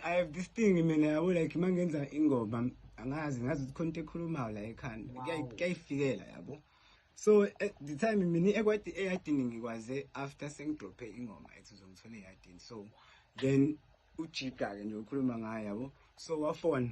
I have this thing mina yabo like uma ngenza ingoma angazi ngazi ukuthi khona into ekhulumayo la ekhanda kuyayifikela yabo so eh, the time mina ekwati eyadini ngikwaze after sengidrophe ingoma ethi uzongithola eyadini so then ujika-ke nje ukhuluma ngayo yabo so wafona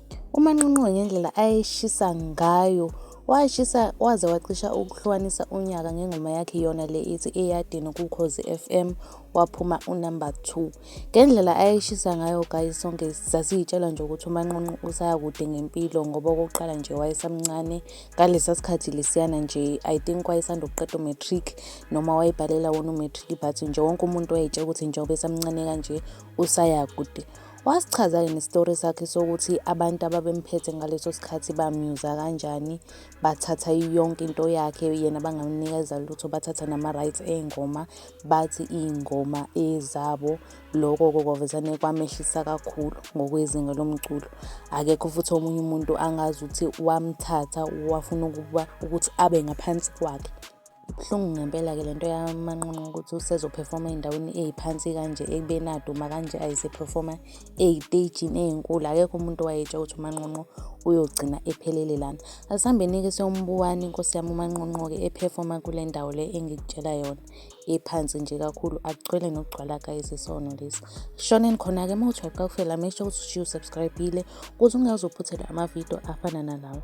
UManqonqo ngendlela ayeshisa ngayo washisa waze wacisha ukuhlukanisa unyaka ngengoma yakhe yona le ithi eyadini kukhozi FM waphuma unumber 2 ngendlela ayeshisa ngayo guys sonke sasiyitshela nje ukuthi umanqonqo usaya kude ngempilo ngoba okokuqala nje wayesamncane ngalesa sikhathi lesiyana nje i think wayesanda ukuqeda umatric noma wayebhalela wona umatric but nje wonke umuntu wayetshela ukuthi njengoba esamncane kanje usaya kude Wasichaza yini isitori sakhe sokuthi abantu ababemphethe ngaleso sikhathi bamyuza kanjani, bathatha yonke into yakhe yena bangamnikeza lutho, bathatha nama-rights ey'ngoma, bathi iy'ngoma ezabo. Loko-ke kwavezane kwamehlisa kakhulu ngokwezinga lomculo. Akekho futhi omunye umuntu angazi ukuthi wamthatha wafuna ukuba ukuthi abe ngaphansi kwakhe. Ibuhlungu ngempela-ke le nto yamanqonqo ukuthi usezophefoma ey'ndaweni ey'phansi kanje ekubeni aduma kanje ayisephefoma ey'teyijini ey'nkulu akekho umuntu owayetsha ukuthi umanqonqo uyogcina ephelele lana asihambeni-ke siyombuwani inkosi yami umanqonqo-ke ephefoma kule ndawo le engikutshela yona ephansi nje kakhulu akugcwele nokugcwala guys isono lesi shoneni khona-ke uma uthi uyaqakufela make sure ukuthi ushiye usubscribile ukuze ungazophuthelwa amavidiyo afana nalawo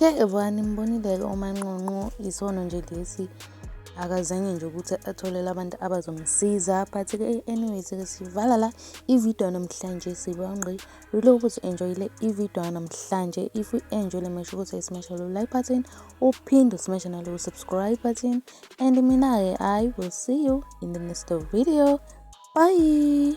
Ke evani mbonile-ke umanqonqo isono nje lesi akazange nje ukuthi atholele abantu abazomsiza but ke anyways ke sivala la ivideo namhlanje sibangqi lula ukuthi enjoyile ivideo namhlanje if you enjoy le masho ukuthi smash lo like button uphinde usmash nalo subscribe button and mina ke i will see you in the next video bye